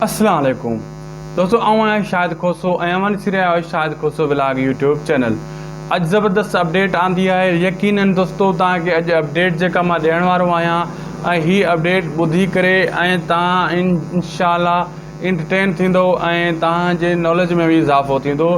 اسلام عليڪم دوستو آئون آهيان شاهد کوسو ۽ اوهان ڏسي رهيا آهيو Shahid Khoso vlog YouTube channel اڄ زبردست اپڊيٽ آندي آهي يقينن دوستو توهان کي اڄ اپڊيٽ جيڪا مان ڏيڻ وارو آهيان ۽ هي اپڊيٽ ٻڌي ڪري ۽ توهان انشاء الله انٽرٽين ٿيندو ۽ توهان جي ناليج ۾ به اضافو ٿيندو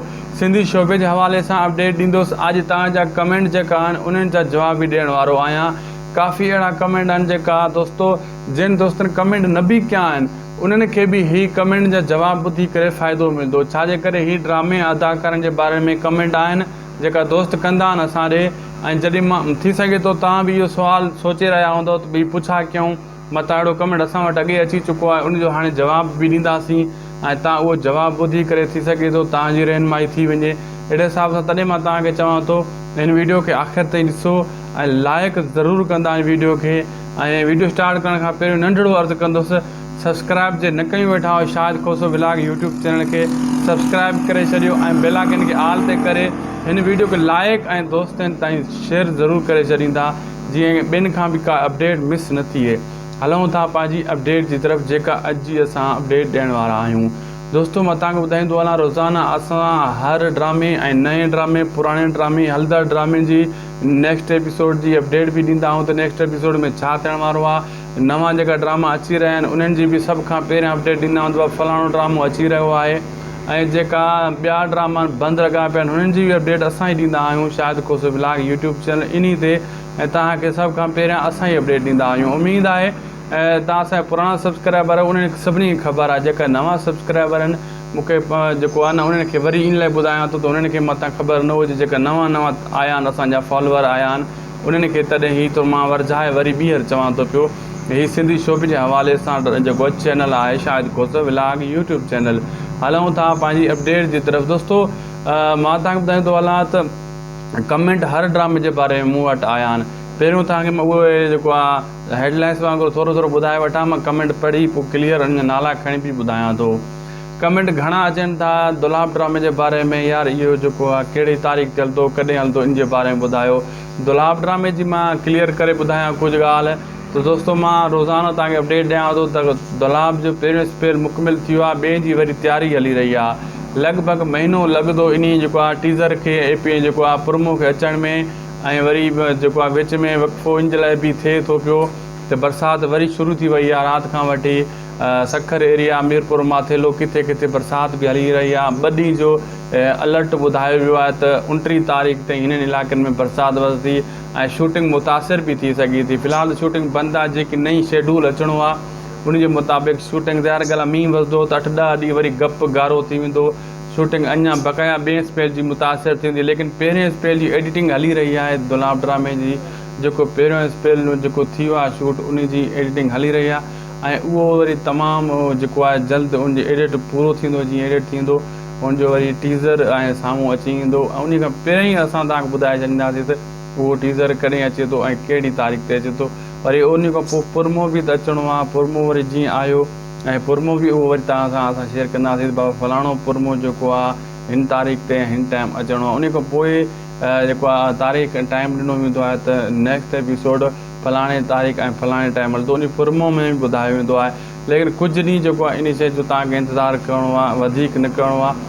سنڌي شعبي جي حوالي سان اپڊيٽ ڏيندوس اڄ توهان جا ڪمينٽ جيڪا آهن انهن جا جواب به ڏيڻ وارو آهيان ڪافي اهڙا ڪمينٽ آهن جيڪا دوستو جن دوستن ڪمينٽ نه به ڪيا آهن انهن کي به هي ڪمينٽ جا جواب ٻڌي ڪري فائدو ملدو ڇا جي ڪري هي ڊرامي ۽ اداڪارن جي باري ۾ ڪمينٽ آهن جيڪا دوست ڪندا آهن اسان ڏي ۽ جڏهن مان ٿي سگهي ٿو توهان به اهو سوال سوچي رهيا هوندو ته ڀي پڇا ڪيون متان اهڙو ڪمينٽ اسان وٽ اڳي اچي چڪو آهي ان جو هاڻي جواب به ڏينداسين ۽ تان اهو جواب ٻڌي ڪري ٿي سگهي ٿو توهان جي رهنمائي ٿي وڃي اهڙي حساب سان تڏهن مان توهان کي چوان ٿو هن ويڊيو کي آخر تائين ڏسو ۽ لائڪ ضرور ڪندا هن ويڊيو کي ۽ ويڊيو اسٽارٽ ڪرڻ کان پهريون ننڍڙو عرض ڪندس سبسڪرائب جي نه ڪيون ويٺا آهيو Shahid Khoso vlog YouTube channel کي سبسڪرائب ڪري ڇڏيو ۽ بيل آئڪن کي آل تي ڪري هن ويڊيو کي لائيڪ ۽ دوستن تائين شيئر ضرور ڪري ڇڏيندا جيئن ٻين کان به ڪا اپڊيٽ مس نه ٿئي هلون ٿا پنهنجي اپڊيٽ جي طرف جيڪا اڄ جي اسان اپڊيٽ ڏيڻ وارا آهيون دوستو مان تان کي ٻڌائيندو هلان روزانه اسان هر ڊرامي ۽ نئين ڊرامي پراڻي ڊرامي هلندڙ ڊرامي جي نيڪسٽ ايپيسوڊ جي اپڊيٽ به ڏيندا آهيون ته نيڪسٽ ايپيسوڊ ۾ ڇا ٿيڻ وارو آهي نوان جيڪا ڊراما اچي رهيا آهن انهن جي به سڀ کان پهريان اپڊيٽ ڏيندا آهيون ته فلاڻو ڊرامو اچي رهيو آهي ۽ جيڪا ٻيا ڊراما بند لڳا پيا آهن انهن جي به اپڊيٽ اسان ئي ڏيندا آهيون Shahid Khoso vlog YouTube channel انهي تي ۽ توهان کي سڀ کان پهريان اسان ئي اپڊيٽ ڏيندا آهيون اميد آهي توهان اسان جا پراڻا سبسڪرائبر انهن سڀني کي خبر آهي جيڪا نوان سبسڪرائبر آهن مون کي جيڪو آهي نه انهن کي وري ان لاء ٻڌايان ٿو ته انهن کي متان خبر نه هجي جيڪا نوان نوان آيا آهن اسان جا فالوور آيا آهن انهن کي تڏهن هي تو مان ورجائي وري ٻيهر چوان ٿو پيو ته هي سنڌي شوق جي حوالي سان جيڪو چينل آهي Shahid Khoso vlog YouTube channel هلون ٿا پنهنجي اپڊيٽ جي طرف دوستو مان تان ٻڌائيندو هلان ته ڪمينٽ هر ڊرامي جي باري ۾ مون وٽ آيا آهن پهريون تان کي مان اهو جيڪو آهي هيڊ لائنس وانگر ٿورو ٿورو ٻڌائي وٺان مان ڪمينٽ پڙهي پو ڪليئر انهن جا نالا کڻي پي ٻڌايان ٿو ڪمينٽ گهڻا اچن ٿا دولاب ڊرامي جي باري ۾ يار اهو جيڪو آ ڪهڙي تاريخ تي هلندو ڪڏهن هلندو ان جي باري ۾ ٻڌايو دولاب ڊرامي جي مان ڪليئر ڪري ٻڌايان ڪجهه ڳالهه ته دوستو مان روزانو توهان کي اپڊيٽ ڏيان ٿو ته دولاب جو پهريون سپيل مڪمل ٿي ويو آ ٻئي جي وري تياري هلي رهي آ لڳ ڀڳ مهينو لڳندو انهي جيڪو آ ٽيزر کي اي پي جيڪو آ پرومو کي اچڻ ۾ ۽ وري جيڪو آ وچ ۾ وقفو ان جي لاء به ٿئي ٿو پيو ته برسات وري شروع ٿي وئي آ رات کان وٺي سکر ايريا ميرپور ماٿيلو ڪٿي ڪٿي برسات به هلي رهي آ ٻه ڏينهن جو الرٽ ٻڌايو ويو آهي ته اڻٽيهه تاريخ تائين هنن علائقن ۾ برسات وسندي ۽ شوٽنگ متاثر به ٿي سگهي ٿي في الحال ته شوٽنگ بند آ جيڪي نئين شيڊول اچڻو آ ان جي مطابق شوٽنگ ظاهر ڳالهه آ مينهن وسندو ته اٺ ڏهه ڏينهن وري گپ گارو ٿي ويندو. شوٽنگ اڃا بقايا ٻئي اسپيل جي متاثر ٿيندي ليڪن پهرين اسپيل جي ايڊيٽنگ هلي رهي آهي دولاب ڊرامي جي جيڪو پهريون اسپيل ۾ جيڪو ٿيو آهي شوٽ انهي جي ايڊيٽنگ هلي رهي آهي ۽ اهو وري تمام جيڪو آهي جلد ان جي ايڊيٽ پورو ٿيندو جيئن ايڊيٽ ٿيندو ان جو وري ٽيزر ۽ سامهون اچي ايندو ۽ انهي کان پهرين ئي اسان توهان کي ٻڌائي ڇڏينداسين ته اهو ٽيزر ڪڏهن اچي ٿو ۽ ڪهڙي تاريخ تي اچي ٿو وري انهي کان پوء پرمو به ته اچڻو آهي پرمو وري جيئن آيو ۽ پرموه به اهو وري توهان سان اسان شيئر ڪنداسين ته بابا فلاڻو پرموه جيڪو آ هن تاريخ تي ۽ هن ٽائيم اچڻو آ انهي کان پوء جيڪو آ تاريخ ۽ ٽائيم ڏنو ويندو آهي ته نيڪسٽ ايپيسوڊ فلاڻي تاريخ ۽ فلاڻي ٽائيم هلندو انهي پرموه ۾ به ٻڌايو ويندو آهي ليڪن ڪجهه ڏينهن جيڪو آ انهي شيء جو توهان کي انتظار ڪرڻو آ وڌيڪ نه ڪرڻو آ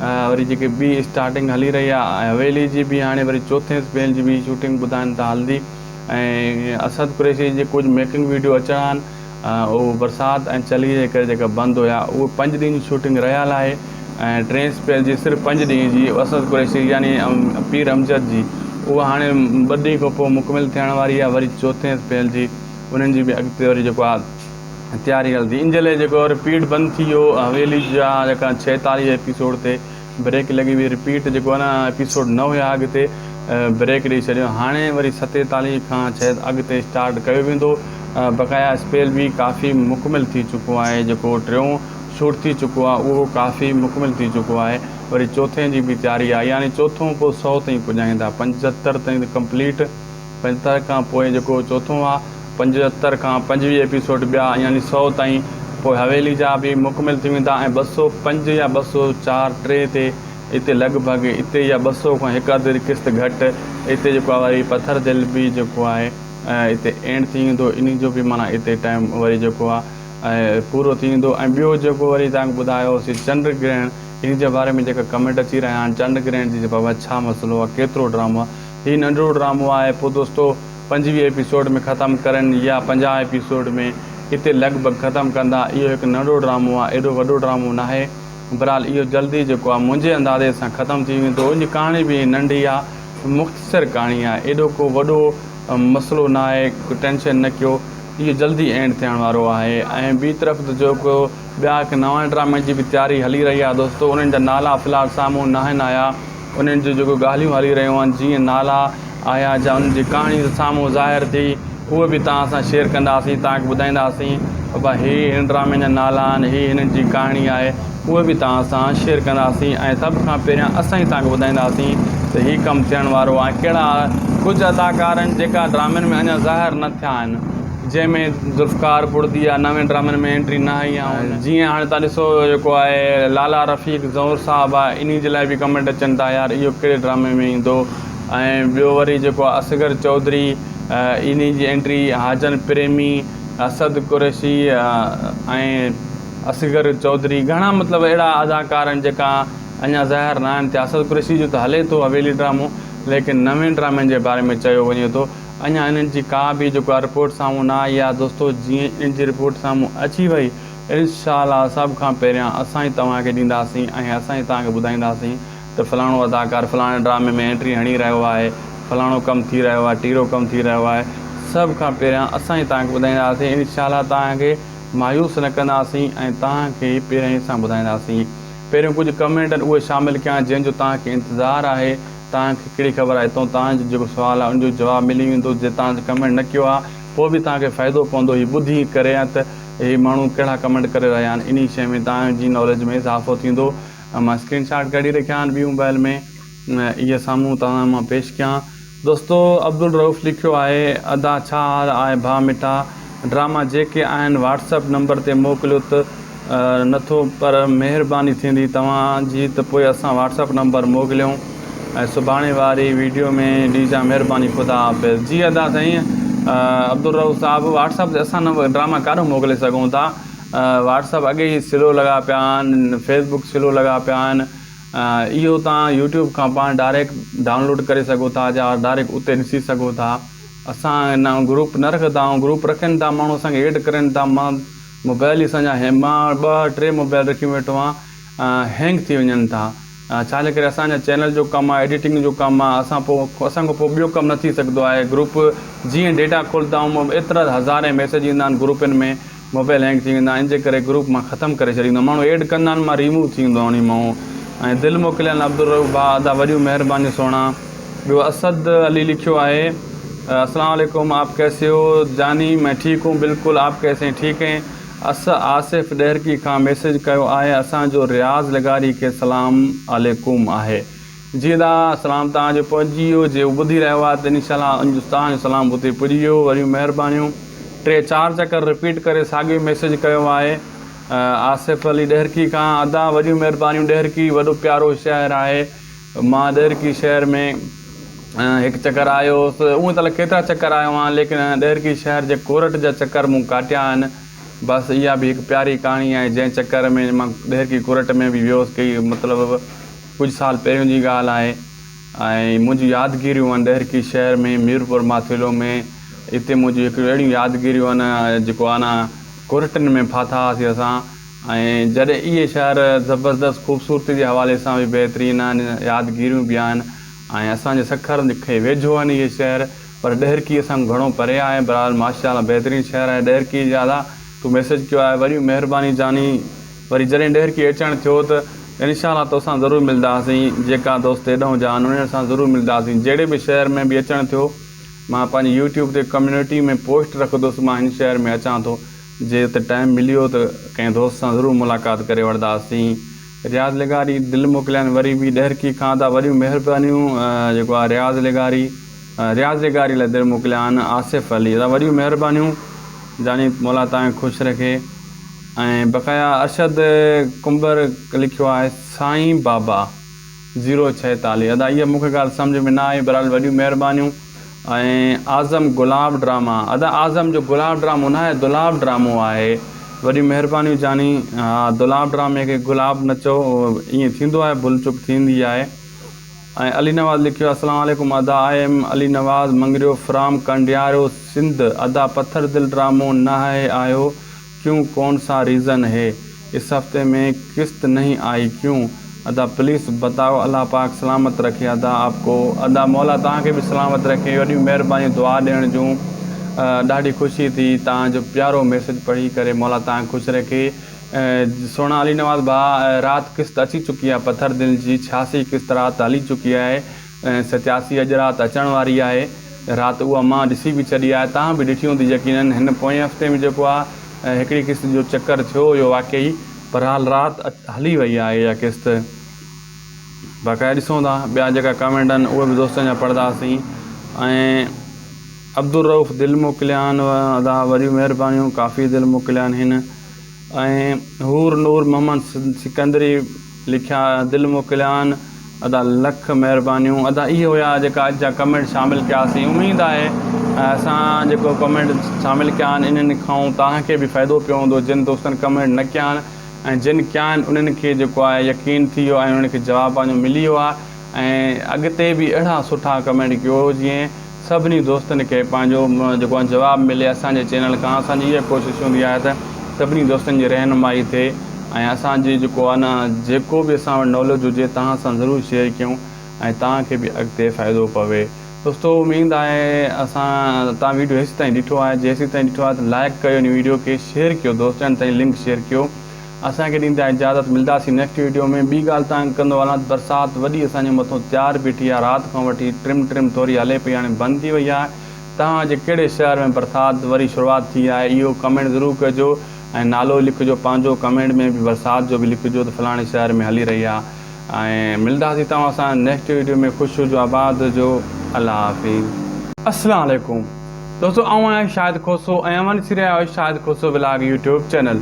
وري جيڪي ٻي اسٽارٽنگ هلي رهي آهي ۽ حويلي جي به هاڻي وري چوٿين اسپيل جي به شوٽنگ ٻڌائن ٿا هلندي ۽ اسد قريشي جي ڪجهه ميڪنگ ويڊيو اچڻا آهن اهو برسات ۽ چلي جي ڪري جيڪا بند هيا اهي پنج ڏينهن جي شوٽنگ رهيال آهي ۽ ٽين اسپيل جي صرف پنج ڏينهن جي اسد قريشي يعني پير امجد جي اها هاڻي ٻه ڏينهن کان پوء مڪمل ٿيڻ واري آهي وري چوٿين اسپيل جي انهن جي به اڳتي وري جيڪو آهي تياري هلندي. ان جهلي جيڪو رپيٽ بند ٿي ويو حويلي جا جيڪا ڇيتاليهه ايپيسوڊ تي بريڪ لڳي وئي رپيٽ جيڪو ان ايپيسوڊ نه هيا اڳ تي بريڪ ڏئي ڇڏيو هاڻي وري ستيتاليهه کان ڇيت اڳ تي اسٽارٽ ڪيو ويندو بقايا اسپيل به ڪافي مڪمل ٿي چڪو آهي جيڪو ٽيون شوٽ ٿي چڪو آهي اهو ڪافي مڪمل ٿي چڪو آهي وري چوٿين جي به تياري آهي يعني چوٿون پوء سؤ تائين پڄائيندا پنجهتر تائين ته ڪمپليٽ پنجهتر کان پوء جيڪو چوٿون آ، پنجهتر کان پنجويهه ايپيسوڊ ٻيا يعني سؤ تائين، پوء حويلي جا به مڪمل ٿي ويندا ۽ ٻه سؤ پنج يا ٻه سؤ چار ٽي تي اتي لڳ ڀڳ اتي يا ٻه سؤ کان هڪ اڌ قسط گهٽ اتي جيڪو آ وري پٿر دل به جيڪو آهي اتي اينڊ ٿي ويندو انهي جو به معنيٰ اتي ٽائيم وري جيڪو آ پورو ٿي ويندو ۽ ٻيو جيڪو وري توهان کي ٻڌايو هوسي چنڊ گرهڻ انهي جي باري ۾ جيڪا ڪمينٽ اچي رهيا آهن چنڊ گرهڻ جي بابت ڇا مسئلو آ ڪيترو ڊرامو آ هي ننڍڙو ڊرامو آهي پوء دوستو پنجويهه ايپيسوڊ ۾ ختم ڪرين يا پنجاهه ايپيسوڊ ۾ اتي لڳ ڀڳ ختم ڪندا اهو هڪ ننڍڙو ڊرامو آهي ايڏو وڏو ڊرامو ناهي برحال اهو جلدي جيڪو آهي منهنجي اندازي سان ختم ٿي ويندو ان جي ڪهاڻي به ننڍي آهي مختصر ڪهاڻي آهي ايڏو ڪو وڏو مسئلو ناهي ٽينشن نه ڪيو اهو جلدي اينڊ ٿيڻ وارو آهي ۽ ٻي طرف ته جيڪو ٻيا هڪ نوان ڊرامي جي به تياري هلي رهي آهي دوستو انهن جا نالا في الحال سامهون ناهن آيا انهن جون جيڪو ڳالهيون هلي رهيون آهن جيئن نالا آيا جا انهن جي ڪهاڻي سامهون ظاهر ٿي اهي به توهان سان شيئر ڪنداسين توهان کي ٻڌائينداسين ته ڀا هي هن ڊرامي جا نالا آهن هي هنن جي ڪهاڻي آهي اهي به توهان سان شيئر ڪنداسين ۽ سڀ کان پهريان اسان ئي توهان کي ٻڌائينداسين ته هي ڪم ٿيڻ وارو آهي ڪهڙا ڪجهه اداڪار آهن جيڪا ڊرامن ۾ اڃا ظاهر نه ٿيا آهن جنهن ۾ ذوالفقار ٻڙڌي يا نوين ڊرامن ۾ انٽري نه آئي يا هن جيئن هاڻي تان ڏسو جيڪو آهي لالا رفيق زئور صاحب آ انهي جي لاء به ڪمينٽ اچن ٿا يار اهو ڪهڙي ڊرامي ۾ ايندو ۽ ٻيو وري جيڪو آ اصغر چوڌري انهي جي انٽري حاجن پريمي اسد قريشي ۽ اصغر چوڌري گهڻا مطلب اهڙا اداڪار آهن جيڪا اڃا ظاهر نه آهن ٿيا اسد قريشي جو ته هلي ٿو حويلي ڊرامو ليڪن نوين ڊرامن جي باري ۾ چيو وڃي ٿو اڃا انهن جي ڪا به جيڪا رپورٽ سامهون نه آئي آهي دوستو جيئن ان جي رپورٽ سامهون اچي وئي انشاء الله سڀ کان پهريان اسان ئي توهان کي ڏينداسين ۽ اسان ئي توهان کي ٻڌائينداسين ته فلاڻو اداڪار فلاڻي ڊرامي ۾ انٽري هڻي رهيو آهي فلاڻو ڪم ٿي رهيو آهي ٽيرو ڪم ٿي رهيو آهي سڀ کان پهريان اسان ئي توهان کي ٻڌائينداسين انشاء الله توهان کي مايوس نه ڪنداسين ۽ توهان کي پهريائين سان ٻڌائينداسين پهريون ڪجهه ڪمينٽن اهي شامل ڪيا جنهن جو توهان کي انتظار آهي توهان کي ڪهڙي خبر آهي تو توهان جو جيڪو سوال آهي ان جو جواب ملي ويندو جي توهان ته ڪمينٽ نه ڪيو آهي پوء به توهان کي فائدو پوندو هي ٻڌي ڪري ته هي ماڻهو ڪهڙا ڪمينٽ ڪري رهيا آهن انهي شيء ۾ توهان جي ناليج ۾ اضافو ٿيندو مان اسڪرين شاٽ ڪڍي رکيا آهن ٻي موبائل ۾ اهي سامهون توهان مان پيش ڪيان دوستو عبدالرؤف لکيو آهي ادا ڇا حال آهي ڀا مٺا. ڊراما جيڪي آهن واٽس اپ نمبر تي موڪليو ته نٿو پر مهرباني ٿيندي توهان جي ته پوء اسان واٽس اپ نمبر موڪليون ۽ سڀاڻي واري ويڊيو ۾ ڏيجان مهرباني خدا حافظ. جي ادا سائين عبدالرؤف صاحب واٽس اپ تي اسان ڊراما ڪاڏو موڪلي سگهون ٿا واٽس اپ اڳي ئي سلو لڳا پيا آهن فيس بڪ سلو لڳا پيا آهن اهو تان يوٽيوب کان پاڻ ڊائريڪٽ ڊائونلوڊ ڪري سگهو ٿا جا ڊائريڪٽ اتي ڏسي سگهو ٿا. اسان ان آئون گروپ نه رکدا آئون گروپ رکين ٿا ماڻهو اسان کي ايڊ ڪرين ٿا مان موبائل اسان جا هين مان ٻه ٽي موبائل رکي ويٺو آهيان هينگ ٿي وڃن ٿا ڇا جي ڪري اسان جا چينل جو ڪم آهي ايڊيٽنگ جو ڪم آهي اسان پو اسان کان پو ٻيو ڪم نه ٿي سگهندو آهي گروپ جيئن ڊيٽا کولدا آئون ايترا هزارين ميسج ايندا آهن گروپن ۾ موبائل هينگ ٿي ويندا ان جي ڪري گروپ مان ختم ڪري ڇڏيندو ماڻهو ايڊ ڪندا آهن مان ريموو ٿي ويندو انهي مئو ۽ دل موڪليل عبدالرؤف ڀاء ادا وڏيون مهربانيون سهڻا ٻيو اسد علي لکيو آهي اسلام عليڪم آپ ڪيسي هو جاني مين ٺيڪ هون بلڪل آپ ڪيسي هين ٺيڪ هين اس آصف ڏهرڪي کان ميسج ڪيو آهي اسان جو رياض لغاري کي سلام عليڪم آهي جي دا سلام توهان جو پهچي ويو جي هو ٻڌي رهيو آهي ته ان شاء الله ان توهان جو سلام اتي پڄي ويو وڏيون مهربانيون ٽي چار چڪر رپيٽ ڪري ساڳيو ئي ميسيج ڪيو آهي آصف علي ڏهرڪي کان ادا وڏيون مهربانيون ڏهرڪي وڏو پيارو شهر آهي مان ڏهرڪي شهر ۾ هڪ چڪر آيو هوس اون ته ڪيترا چڪر آيو آهيان ليڪن ڏهرڪي شهر جي ڪورٽ جا چڪر مون ڪاٽيا آهن بس اها به هڪ پياري ڪهاڻي آهي جنهن چڪر ۾ مان ڏهرڪي ڪورٽ ۾ به ويو هوس ڪي مطلب ڪجهه سال پهريون جي ڳالهه آهي ۽ منهنجي يادگيريون آهن ڏهرڪي شهر ۾ ميرپور ماٿيلو ۾ اتي منهنجي هڪ اهڙيون يادگيريون آهن جيڪو آهن نا ڪورٽن ۾ ڦاٿا هئاسي اسان ۽ جڏهن اهي شهر زبردست خوبصورتي جي حوالي سان به بهترين آهن يادگيريون به آهن ۽ اسان جي سکر کي ويجهو آهن اهي شهر پر ڏهرڪي اسان کان گهڻو پري آهي بهرحال ماشاءالله بهترين شهر آهي ڏهرڪي جي ادا تون ميسيج ڪيو آهي وري مهرباني جاني وري جڏهن ڏهرڪي اچڻ ٿيو ته انشاء الله توسان ضرور ملداسين جيڪا دوست ايڏهون جا آهن انهن سان ضرور ملداسين جهڙي به شهر ۾ به اچڻ ٿيو مان پنهنجي يوٽيوب تي ڪميونٽي ۾ پوسٽ رکندس مان هن شهر ۾ اچان ٿو جي ته ٽائيم مليو ته ڪنهن دوست سان ضرور ملاقات ڪري وٺداسين رياض لغاري دل موڪليائين وري به ڏهرڪي کان ادا وڏيون مهربانيون جيڪو آ رياض لغاري رياض لغاري لاء دل موڪليائين آصف علي ادا وڏيون مهربانيون جاني مولا تانکي خوش رکي ۽ بقايا ارشد ڪنبر لکيو آهي سائين بابا زيرو ڇهيتاليهه ادا اها مونکي ڳالهه سمجهه ۾ نه آئي بهرحال وڏيون مهربانيون ۽ اعظم گلاب ڊراما ادا اعظم جو گلاب ڊرامو نه آهي دولاب ڊرامو آهي وڏيون مهربانيون جاني ها دولاب ڊرامي کي گلاب نه چئو ائين ٿيندو آهي ڀل چوڪ ٿيندي آهي ۽ علي نواز لکيو السلام عليڪم ادا I am Ali Nawaz Mangrio from Kandiaro Sindh ادا پٿر دل ڊرامو نه آهي آهيو ڪيون ڪون سا ريزن هي اس هفتي مين قسط نهين آئي ڪيون ادا پليس بتايو الله پاڪ سلامت رکي ادا آپ ڪو. ادا مولا توهان کي به سلامت رکي وڏيون مهربانيون دعا ڏيڻ جون ڏاڍي خوشي ٿي توهان جو پيارو ميسج پڙهي ڪري مولا توهان کي خوش رکي سهڻا علي نواز ڀاء رات قسط اچي چڪي آهي پٿر دل جي ڇياسي قسط رات هلي چڪي آهي ۽ ستياسي اڄ رات اچڻ واري آهي رات اها مان ڏسي به ڇڏي آهي توهان به ڏٺي هوندي يقينن هن پوئين هفتي ۾ جيڪو آ هڪڙي قسط جو چڪر ٿيو اهو واقعي بھرحال رات هلي وئي آهي اها قسط باقاعده ڏسون ٿا ٻيا جيڪا ڪامينٽ آهن اهي به دوستن جا پڙھداسين ۽ عبدالروف دل موڪليا آھن ادا وڏيون مھربانيون ڪافي دل موڪليا آھن ۽ حور نور محمد سڪندري لکيا دل موڪليان ادا لک مهربانيون ادا اهي هيا جيڪا اڄ جا ڪمينٽ شامل ڪياسين اميد آهي اسان جيڪو ڪمينٽ شامل ڪيا آهن انهن کان توهان کي به فائدو پيو هوندو جن دوستن ڪمينٽ نه ڪيا آهن ۽ جن ڪيا آهن انهن کي جيڪو آهي يقين ٿي ويو ۽ انهن کي جواب پنهنجو ملي ويو آهي ۽ اڳتي به اهڙا سٺا ڪمينٽ ڪيو جيئن سڀني دوستن کي پنهنجو جيڪو آهن جواب ملي اسان جي چينل کان اسان جي اها ڪوشش هوندي آهي ته سڀني دوستن جي رهنمائي ٿئي ۽ اسان جي جيڪو آهي نه جيڪو به اسان وٽ ناليج هجي توهان سان ضرور شيئر ڪيون ۽ توهان کي به اڳتي فائدو پوي دوستو اميد آهي اسان توهان ويڊيو هيسي تائين ڏٺو آهي جي هيسي تائين ڏٺو آهي ته لائڪ ڪيو هن ويڊيو کي شيئر ڪيو دوستن تائين لنڪ شيئر ڪيو اسان کي ڏيندا اجازت ملداسين نيڪسٽ ويڊيو ۾ ٻي ڳالهه تانگ ڪندو هلان برسات وڏي اسان جي مٿو تيار بيٺي آهي رات کان وٺي ٽرم ٽرم ٿوري هلي پئي هاڻي بند ٿي وئي آهي توهان جي ڪهڙي شهر ۾ برسات وري شروعات ٿي آهي اهو ڪمينٽ ضرور ڪجو ۽ نالو لکجو پنهنجو ڪمينٽ ۾ به برسات جو به لکجو ته فلاڻي شهر ۾ هلي رهي آهي ۽ ملداسين توهان سان نيڪسٽ ويڊيو ۾ خوش هجو آباد هجو الله حافظ. اسلام عليڪم. دوستو آئون آهيان شاهد کوسو ۽ اوهان ڏسي رهيا آهيو Shahid Khoso vlog YouTube channel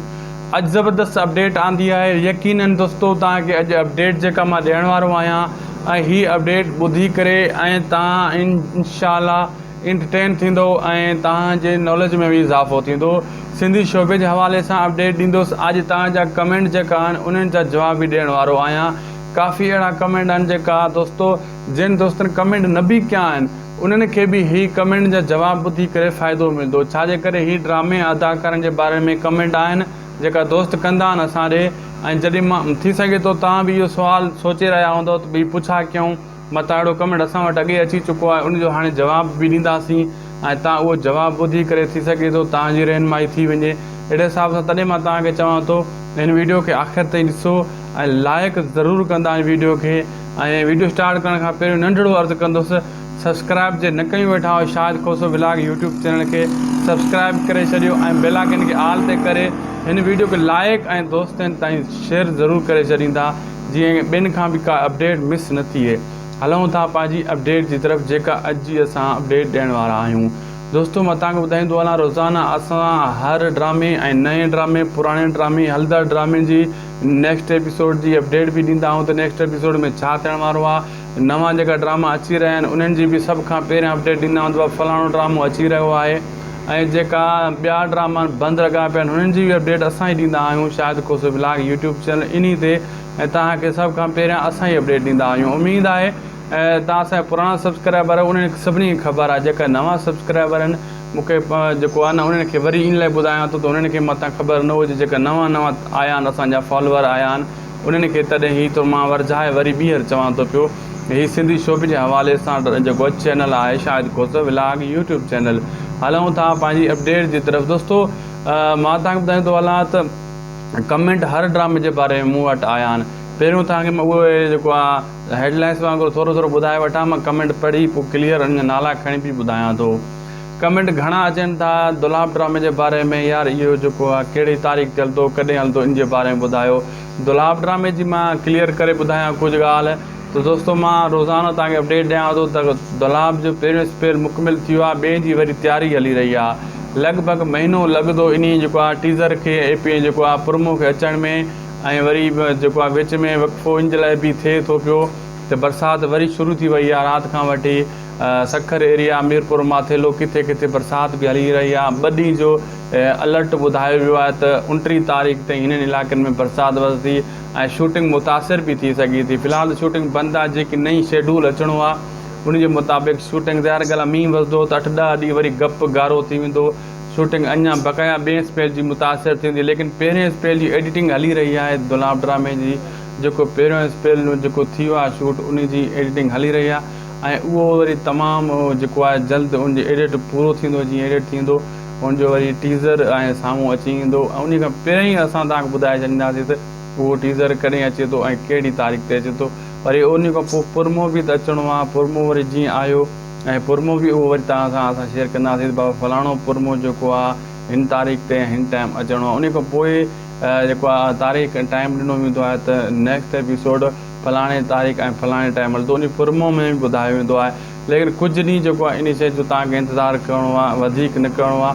اڄ زبردست اپڊيٽ آندي آهي يقيناً دوستو توهان کي اڄ اپڊيٽ جيڪا مان ڏيڻ وارو آهيان ۽ هي اپڊيٽ ٻڌي ڪري ۽ توهان انشاء الله انٽرٽين ٿيندو ۽ توهان جي ناليج ۾ به اضافو ٿيندو سنڌي شعبي جي حوالي سان اپڊيٽ ڏيندوس اڄ توهان جا ڪمينٽ جيڪا آهن انهن جا جواب به ڏيڻ وارو آهيان ڪافي اهڙا ڪمينٽ آهن جيڪا دوستو جن دوستن ڪمينٽ نه به ڪيا آهن انهن کي به هي ڪمينٽن جا جواب ٻڌي ڪري فائدو ملدو ڇا جي ڪري هي ڊرامي ۽ اداڪارن جي باري ۾ ڪمينٽ آهن جيڪا دوست ڪندا آهن اسان ڏي ۽ جڏهن مان ٿي سگهي ٿو توهان به اهو سوال سوچي رهيا هوندو ته ڀي پڇا ڪيون متان اهڙو ڪمينٽ اسان وٽ اڳي اچي چڪو آهي ان جو هاڻي جواب به ڏينداسين ۽ تان اهو جواب ٻڌي ڪري ٿي سگهي ٿو توهان جي رهنمائي ٿي وڃي اهڙي حساب سان تڏهن مان توهان کي چوان ٿو هن ويڊيو کي آخر تائين ڏسو ۽ لائيڪ ضرور ڪندا هن ويڊيو کي ۽ ويڊيو اسٽارٽ ڪرڻ کان پهريون ننڍڙو عرض ڪندس سبسڪرائب جي نه ڪيون ويٺا آهيو Shahid Khoso vlog YouTube channel کي سبسڪرائب ڪري ڇڏيو ۽ بيل آئڪن کي آل تي ڪري هن ويڊيو کي لائيڪ ۽ دوستن تائين شيئر ضرور ڪري ڇڏيندا جيئن ٻين کان به ڪا اپڊيٽ مس نه ٿئي هلون ٿا پنهنجي اپڊيٽ جي طرف جيڪا اڄ جي اسان اپڊيٽ ڏيڻ وارا آهيون دوستو مان توهان کي ٻڌائيندو هلان روزانه اسان هر ڊرامي ۽ نئين ڊرامي پراڻي ڊرامي هلندڙ ڊرامي جي نيڪسٽ ايپيسوڊ جي اپڊيٽ به ڏيندا آهيون ته نيڪسٽ ايپيسوڊ ۾ ڇا ٿيڻ وارو آهي نوان جيڪا ڊراما اچي رهيا آهن انهن جي به سڀ کان پهريان اپڊيٽ ڏيندا آهيون ته فلاڻو ڊرامو اچي رهيو آهي ۽ جيڪا ٻيا ڊراما بند لڳا پيا آهن انهن جي به اپڊيٽ اسان ئي ڏيندا آهيون Shahid Khoso blog YouTube channel انهي تي ۽ توهان کي سڀ کان پهريان اسان ئي اپڊيٽ ڏيندا آهيون اميد آهي توهان اسان جا پراڻا سبسڪرائبر آهيو انهن سڀني کي خبر آهي جيڪا نوان سبسڪرائبر آهن مون کي جيڪو آهي نه انهن کي وري ان لاء ٻڌايان ٿو ته انهن کي متان خبر نه هجي جيڪا نوان نوان آيا آهن اسان جا فالوور آيا آهن انهن کي تڏهن هي ٿو مان ورجائي وري ٻيهر چوان ٿو پيو ته هي سنڌي شعبي جي حوالي سان جيڪو چينل آهي Shahid Khoso vlog YouTube channel هلون ٿا پنهنجي اپڊيٽ جي طرف دوستو مان تان ٻڌائي ٿو هلان ته ڪمينٽ هر ڊرامي جي باري ۾ مون وٽ آيا آهن پهريون تان کي مان اهو جيڪو آهي هيڊ لائنس وانگر ٿورو ٿورو ٻڌائي وٺان مان ڪمينٽ پڙهي پوء ڪليئر انهن جا نالا کڻي پي ٻڌايان ٿو ڪمينٽ گهڻا اچن ٿا دولاب ڊرامي جي باري ۾ يار اهو جيڪو آهي ڪهڙي تاريخ تي هلندو ڪڏهن هلندو ان جي باري ۾ ٻڌايو دولاب ڊرامي جي مان ڪليئر ڪري ٻڌايان ڪجهه ڳالهه ته دوستو مان روزانو توهان کي اپڊيٽ ڏيان ٿو ته دولاب جو پهريون اسپيل مڪمل ٿي ويو آهي ٻئي جي وري تياري هلي رهي آهي لڳ ڀڳ مهينو لڳندو انهي جيڪو آهي ٽيزر کي اي پي جيڪو آهي پرومو کي اچڻ ۾ ۽ وري جيڪو آ وچ ۾ وقفو ان جي لاء به ٿئي ٿو پيو ته برسات وري شروع ٿي وئي آ رات کان وٺي سکر ايريا ميرپور ماٿيلو ڪٿي ڪٿي برسات به هلي رهي آ ٻه ڏينهن جو الرٽ ٻڌايو ويو آهي ته انٽيهن تاريخ تائين هنن علائقن ۾ برسات وسندي ۽ شوٽنگ متاثر به ٿي سگهي ٿي في الحال ته شوٽنگ بند آ جيڪي نئين شيڊول اچڻو آ ان جي مطابق شوٽنگ ظاهر ڳالهه آ مينهن وسندو ته اٺ ڏهه ڏينهن وري گپ گارو ٿي ويندو شوٽنگ اڃا بقايا ٻئي اسپيل جي متاثر ٿيندي ليڪن پهرين اسپيل جي ايڊيٽنگ هلي رهي آهي دولاب ڊرامي جي جيڪو پهريون اسپيل ۾ جيڪو ٿيو آهي شوٽ ان جي ايڊيٽنگ هلي رهي آهي ۽ اهو وري تمام جيڪو آهي جلد ان جي ايڊيٽ پورو ٿيندو جيئن ايڊيٽ ٿيندو ان جو وري ٽيزر ۽ سامهون اچي ايندو ۽ ان کان پهرين اسان توهان کي ٻڌائي ڇڏينداسين ته اهو ٽيزر ڪڏهن اچي ٿو ۽ ڪهڙي تاريخ تي اچي ٿو وري ان کان پوء پرمو به ته اچڻو آهي پرمو وري جيئن آيو ۽ پرموو به اهو وري توهان سان اسان شيئر ڪنداسين ته بابا فلاڻو پرموو جيڪو آ هن تاريخ تي ۽ هن ٽائيم اچڻو آ انهي کان پوء جيڪو آ تاريخ ۽ ٽائيم ڏنو ويندو آهي ته نيڪسٽ ايپيسوڊ فلاڻي تاريخ ۽ فلاڻي ٽائيم هلندو انهي پرموو ۾ به ٻڌايو ويندو آهي ليڪن ڪجهه ڏينهن جيڪو آ انهي شيء جو توهان کي انتظار ڪرڻو آ وڌيڪ نه ڪرڻو آ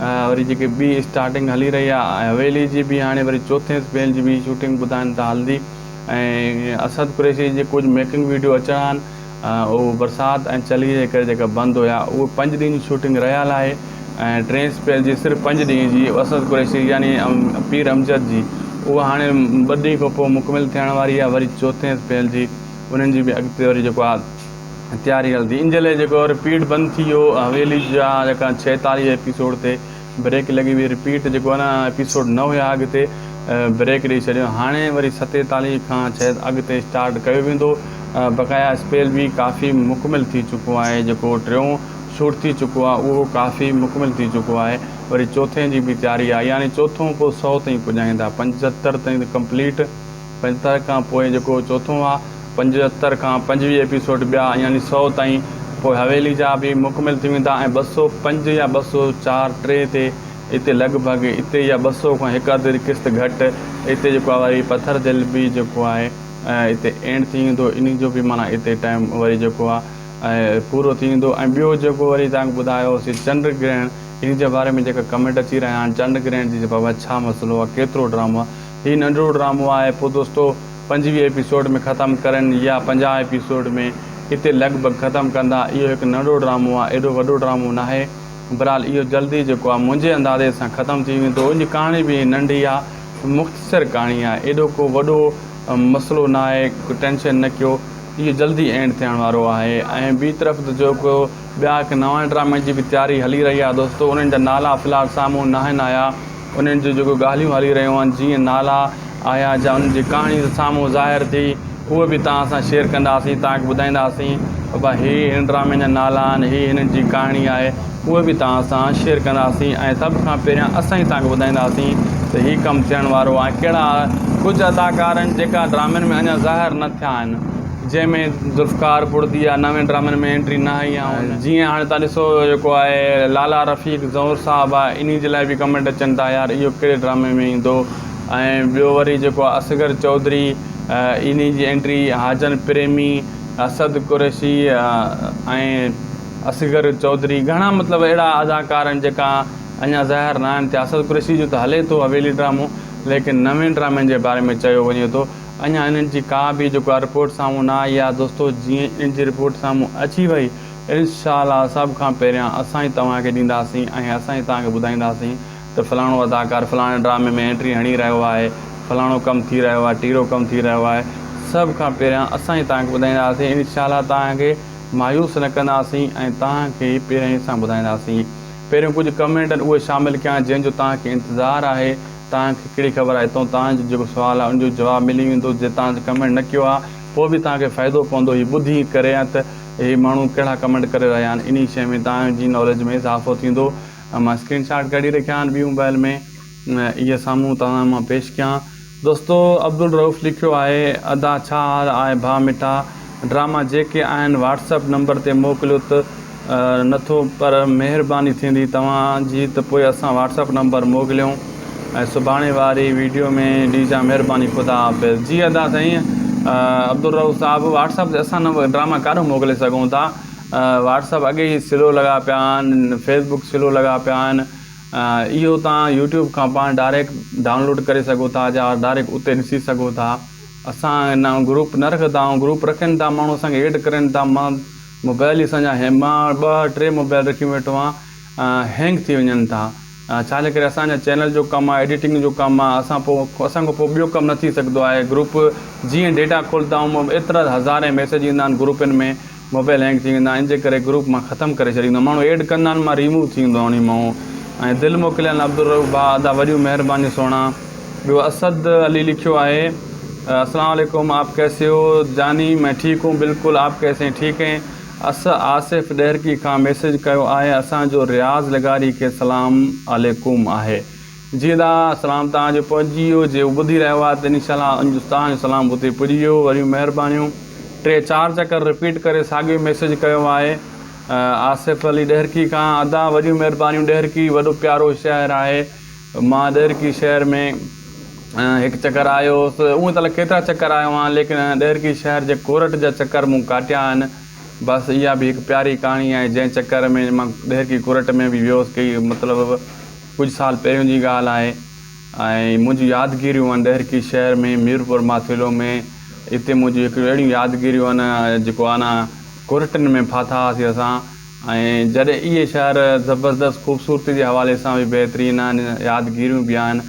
وري جيڪي ٻي اسٽارٽنگ هلي رهي آهي حويلي جي به هاڻي وري چوٿين سپيل جي به شوٽنگ ٻڌائن ٿا هلندي ۽ اسد قريشي جي ڪجهه ميڪنگ ويڊيو اچڻا آهن اهو برسات ۽ چلي جي ڪري جيڪا بند هيا اهي پنج ڏينهن جي شوٽنگ رهيل آهي ۽ ٽين سپيل جي صرف پنج ڏينهن جي اسد قريشي يعني پير امجد جي اها هاڻي ٻه ڏينهن کان پوء مڪمل ٿيڻ واري آهي وري چوٿين سپيل جي انهن جي به اڳتي وري جيڪو آهي تياري هلندي ان جي لاء جيڪو رپيٽ بند ٿي ويو حويلي جا جيڪا ڇهيتاليهه ايپيسوڊ تي بريڪ لڳي وئي رپيٽ جيڪو نه ايپيسوڊ نه هيا اڳتي بريڪ ڏئي ڇڏيو هاڻي وري ستيتاليهه کان شايد اڳتي اسٽارٽ ڪيو ويندو بقايا اسپيل به ڪافي مڪمل ٿي چڪو آهي جيڪو ٽيون شوٽ ٿي چڪو آهي اهو ڪافي مڪمل ٿي چڪو آهي وري چوٿين جي به تياري آهي يعني چوٿون پوء سؤ تائين پڄائيندا پنجهتر تائين ته ڪمپليٽ پنجهتر کان پوء جيڪو چوٿون آ، پنجهتر کان پنجويهه ايپيسوڊ ٻيا يعني سؤ تائين، پوء حويلي جا به مڪمل ٿي ويندا ۽ ٻه سؤ پنج يا ٻه سؤ چار ٽي تي اتي لڳ ڀڳ اتي يا ٻه سؤ کان هڪ اڌ قسط گهٽ اتي جيڪو آ وري پٿر دل به جيڪو آهي اتي اينڊ ٿي ويندو انهي جو به معنيٰ اتي ٽائيم وري جيڪو آ پورو ٿي ويندو ۽ ٻيو جيڪو وري توهان کي ٻڌايو سي چنڊ گرهڻ انهي جي باري ۾ جيڪا ڪمينٽ اچي رهيا آهن چنڊ گرهڻ جي بابت ڇا مسئلو آ ڪيترو ڊرامو آ هي ننڍڙو ڊرامو آهي پوء دوستو پنجويهه ايپيسوڊ ۾ ختم ڪرين يا پنجاهه ايپيسوڊ ۾ اتي لڳ ڀڳ ختم ڪندا اهو هڪ ننڍڙو ڊرامو آهي ايڏو وڏو ڊرامو ناهي برحال اهو جلدي جيڪو آهي منهنجي اندازي سان ختم ٿي ويندو ان جي ڪهاڻي به ننڍي آهي مختصر ڪهاڻي آهي ايڏو ڪو وڏو مسئلو ناهي ٽينشن نه ڪيو اهو جلدي اينڊ ٿيڻ وارو آهي ۽ ٻي طرف ته جيڪو ٻيا هڪ نوان ڊرامي جي به تياري هلي رهي آهي دوستو انهن جا نالا في الحال سامهون ناهن آيا انهن جون جيڪو ڳالهيون هلي رهيون آهن جيئن نالا آيا جا انهن جي ڪهاڻي سامهون ظاهر ٿي اهو به توهان سان شيئر ڪنداسين توهان کي ٻڌائينداسين ته هي هن ڊرامي جا نالا آهن هي هنن جي ڪهاڻي آهي اهو به توهان سان شيئر ڪنداسين ۽ سڀ کان پهريان اسان ئي توهان کي ٻڌائينداسين ته هي ڪم ٿيڻ وارو آهي ڪهڙا ڪجهه اداڪار آهن جيڪا ڊرامن ۾ اڃا ظاهر نه ٿيا آهن جنهن ۾ ذوالفقار بڙدي يا نون ڊرامن ۾ انٽري نه هئي يا هن جيئن هاڻي تان ڏسو جيڪو آهي لالا رفيق زئور صاحب آهي انهي جي لاء به ڪمينٽ اچن ٿا يار اهو ڪهڙي ڊرامي ۾ ايندو ۽ ٻيو وري جيڪو آهي اصغر چوڌري انهي جي انٽري حاجن پريمي اسد قريشي ۽ اصغر چوڌري گهڻا مطلب اهڙا اداڪار آهن جيڪا اڃا ظاهر نه آهن ٿيا اسد قريشي جو ته هلي ٿو حويلي ڊرامو ليڪن نون ڊرامن جي باري ۾ چيو وڃي ٿو اڃا انهن جي ڪا به جيڪا رپورٽ سامهون نه آئي آهي دوستو جيئن ان جي رپورٽ سامهون اچي وئي انشاء الله سڀ کان پهريان اسان ئي توهان کي ڏينداسين ۽ اسان ئي توهان کي ٻڌائينداسين ته فلاڻو اداڪار فلاڻي ڊرامي ۾ انٽري هڻي رهيو آهي فلاڻو ڪم ٿي رهيو آهي ٽيرو ڪم ٿي رهيو آهي سڀ کان پهريان اسان ئي توهان کي ٻڌائينداسين انشاء الله توهان کي مايوس نه ڪنداسين ۽ توهان کي پهريائين سان ٻڌائينداسين پهريون ڪجهه ڪمينٽن اهي شامل ڪيا جنهن جو توهان کي انتظار آهي توهان کي ڪهڙي خبر آهي تون توهان جو جيڪو سوال آهي ان جو جواب ملي ويندو جي توهان جي ڪمينٽ نه ڪيو آهي پوء به توهان کي فائدو پوندو هي ٻڌي ڪري ته هي ماڻهو ڪهڙا ڪمينٽ ڪري رهيا آهن انهي شيء ۾ توهان جي ناليج ۾ اضافو ٿيندو مان اسڪرين شاٽ ڪڍي رکيا آهن ٻي موبائل ۾ اهي سامهون توهان مان پيش ڪيان دوستو عبدالرؤف لکيو آهي ادا ڇا حال آهي ڀا مٺا. ڊراما جيڪي آهن واٽس اپ نمبر تي موڪليو ته نٿو پر مهرباني ٿيندي توهان جي ته پوء اسان واٽس اپ نمبر موڪليون ۽ سڀاڻي واري ويڊيو ۾ ڏيجان مهرباني خدا حافظ. جي ادا سائين عبدالرؤف صاحب واٽس اپ تي اسان نمبر ڊراما ڪاڏو موڪلي سگهون ٿا واٽس اپ اڳي ئي سلو لڳا پيا آهن فيس بڪ سلو لڳا پيا آهن اهو توهان يوٽيوب کان پاڻ ڊائريڪٽ ڊائونلوڊ ڪري سگهو ٿا جا ڊائريڪٽ اتي ڏسي سگهو ٿا. اسان ان آئون گروپ نه رکدا آئون گروپ رکين ٿا ماڻهو اسان کي ايڊ ڪرين ٿا مان موبائل اسان جا هين مان ٻه ٽي موبائل رکي ويٺو آهيان هينگ ٿي وڃن ٿا ڇا جي ڪري اسان جا چينل جو ڪم آهي ايڊيٽنگ جو ڪم آهي اسان پو اسان کان پو ٻيو ڪم نه ٿي سگهندو آهي گروپ جيئن ڊيٽا کولدا آئون ايترا هزارين ميسج ايندا آهن گروپن ۾ موبائل هينگ ٿي ويندا آهن جي ڪري گروپ مان ختم ڪري ڇڏيندو ماڻهو ايڊ ڪندا آهن مان ريموو ٿي ويندو آهن انهي مئو ۽ دل موڪليل عبدالرؤف ڀاء ادا وڏيون مهربانيون سهڻا ٻيو اسد علي لکيو آهي اسلام عليڪم آپ ڪيسي هو جاني مين ٺيڪ هون بلڪل آپ ڪيسي هين ٺيڪ هين اس آصف ڏهرڪي کان ميسج ڪيو آهي اسان جو رياض لغاري کي سلام عليڪم آهي جيئندا سلام توهان جو پهچجي ويو جيئو ٻڌي رهيو آهي ته انشاء الله انجو توهان جو سلام اتي پڄي ويو وڏيون مهربانيون ٽي چار چڪر رپيٽ ڪري ساڳيو ميسج ڪيو آهي آصف علي ڏهرڪي کان ادا وڏيون مهربانيون ڏهرڪي وڏو پيارو شهر آهي مان ڏهرڪي شهر ۾ هڪ چڪر آيو هوس اون ته ڪيترا چڪر آيو آهيان ليڪن ڏهرڪي شهر جي ڪورٽ جا چڪر مون ڪاٽيا آهن بس اها به هڪ پياري ڪهاڻي آهي جنهن چڪر ۾ مان ڏهرڪي ڪورٽ ۾ به ويو هوس ڪي مطلب ڪجهه سال پهريون جي ڳالهه آهي ۽ منهنجي يادگيريون آهن ڏهرڪي شهر ۾ ميرپور ماٿيلو ۾ اتي منهنجي هڪڙيون اهڙيون يادگيريون آهن جيڪو آنا ڪورٽن ۾ ڦاٿا هئاسي اسان ۽ جڏهن اهي شهر زبردست خوبصورتي جي حوالي سان به بهترين آهن يادگيريون به آهن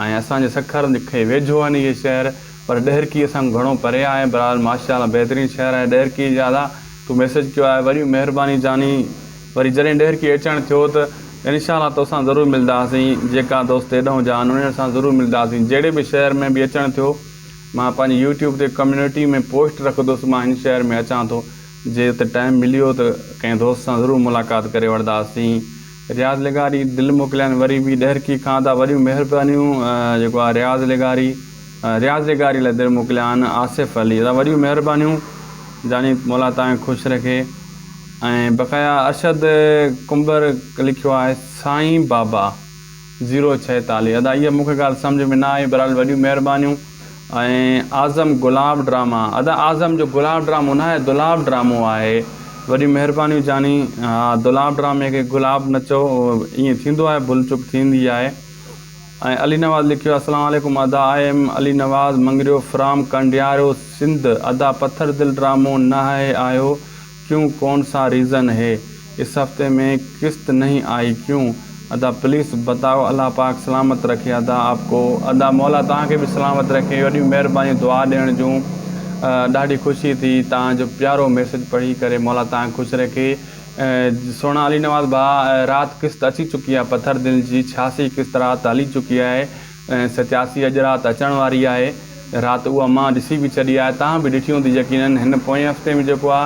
۽ اسان جي سکر کي ويجهو آهن اهي شهر پر ڏهرڪي اسان کان گهڻو پري آهي بهرحال ماشاءالله بهترين شهر آهي ڏهرڪي جي ادا تو ميسج ڪيو آهي وڏي مهرباني جاني. وري جڏهن ڏهرڪي اچڻ ٿيو ته انشاء الله توسان ضرور ملداسين جيڪا دوست ايڏهون جا آهن انهن سان ضرور ملداسين جهڙي به شهر ۾ به اچڻ ٿيو مان پنهنجي يوٽيوب تي ڪميونٽي ۾ پوسٽ رکندس مان هن شهر ۾ اچان ٿو جي ته ٽائيم مليو ته ڪنهن دوست سان ضرور ملاقات ڪري وٺداسين رياض لغاري دل موڪليائين وري به ڏهرڪي کان ادا وڏيون مهربانيون جيڪو آهي رياض لغاري رياض لغاري لاء دل موڪليائين آصف علي ادا وڏيون مهربانيون جاني مولا تانکي خوش رکي ۽ بقايا ارشد ڪنڀر لکيو آهي سائين بابا زيرو ڇهيتاليهه ادا اها مون کي ڳالهه سمجهه ۾ نه آئي بهرحال وڏيون مهربانيون ۽ اعظم گلاب ڊراما ادا اعظم جو گلاب ڊرامو نه آهي دولاب ڊرامو آهي وڏيون مهربانيون جاني ها دولاب ڊرامي کي گلاب نه چئو ائين ٿيندو آهي ڀل چوڪ ٿيندي آهي ۽ علي نواز لکيو آهي اسلام عليڪم ادا I am Ali Nawaz Mangrio from Kandiaro Sindh ادا پٿر دل ڊرامو نه آهي آهيو ڪيون ڪون سا ريزن هي اس هفتي مين قسط نهين آئي ڪيون ادا پليس بتائو الله پاڪ سلامت رکي ادا آپ ڪو. ادا مولا توهان کي به سلامت رکي وڏيون مهربانيون دعا ڏيڻ جون ڏاڍي خوشي ٿي توهان جو پيارو ميسج پڙهي ڪري مولا توهان کي خوش رکي سهڻا علي نواز ڀاء رات قسط اچي چڪي آهي پٿر دل جي ڇياسي قسط رات هلي چڪي آهي ۽ ستياسي اڄ رات اچڻ واري آهي رات اها مان ڏسي به ڇڏي آهي توهان به ڏٺي هوندي يقينن هن پوئين هفتي ۾ جيڪو آ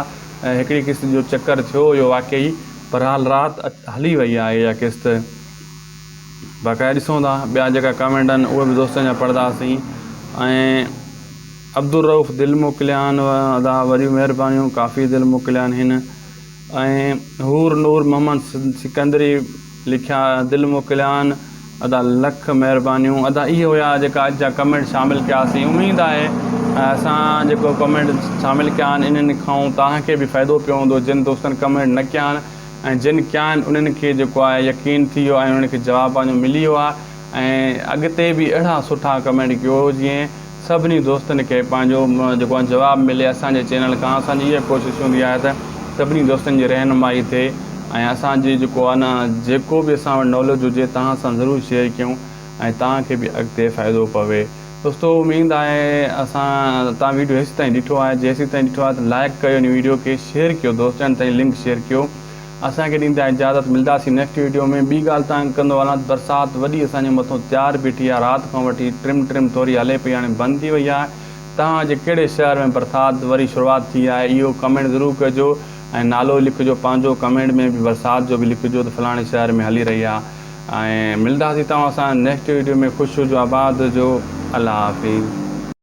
هڪڙي قسط جو چڪر ٿيو اهو واقعي بھرحال رات هلي وئي آهي اها قسط باقاعده ڏسون ٿا ٻيا جيڪا ڪامينٽ آهن اهي به دوستن جا پڙھداسين ۽ عبدالروف دل موڪليا آھن ادا وڏيون مھربانيون ڪافي دل موڪليا آھن ۽ حور نور محمد سڪندري لکيا دل موڪليان ادا لک مهربانيون ادا اهي هيا جيڪا اڄ جا ڪمينٽ شامل ڪياسين اميد آهي اسان جيڪو ڪمينٽ شامل ڪيا آهن انهن کان توهان کي به فائدو پيو هوندو جن دوستن ڪمينٽ نه ڪيا آهن ۽ جن ڪيا آهن انهن کي جيڪو آهي يقين ٿي ويو ۽ انهن کي جواب پنهنجو ملي ويو آهي ۽ اڳتي به اهڙا سٺا ڪمينٽ ڪيو جيئن سڀني دوستن کي پنهنجو جيڪو آهي جواب ملي اسان جي چينل کان اسان جي اها ڪوشش هوندي آهي ته سڀني دوستن جي رهنمائي ٿئي ۽ اسان جي جيڪو آهي نه جيڪو به اسان وٽ ناليج هجي توهان سان ضرور شيئر ڪيون ۽ توهان کي به اڳتي فائدو پوي دوستو اميد آهي اسان توهان ويڊيو هيسي تائين ڏٺو آهي جي هيسي تائين ڏٺو آهي ته لائڪ ڪيو هن ويڊيو کي شيئر ڪيو دوستن تائين لنڪ شيئر ڪيو اسان کي ڏيندا اجازت ملداسين نيڪسٽ ويڊيو ۾ ٻي ڳالهه تانگ ڪندو هلان ته برسات وڏي اسان جي مٿو تيار بيٺي آهي رات کان وٺي ٽرم ٽرم ٿوري هلي پئي هاڻي بند ٿي وئي آهي توهان جي ڪهڙي شهر ۾ برسات وري شروعات ٿي آهي اهو ڪمينٽ ضرور ڪجو ۽ نالو لکجو پنهنجو ڪمينٽ ۾ به برسات جو به لکجو ته فلاڻي شهر ۾ هلي رهي آهي ۽ ملداسين توهان سان نيڪسٽ ويڊيو ۾ خوش هجو آباد هجو الله حافظ.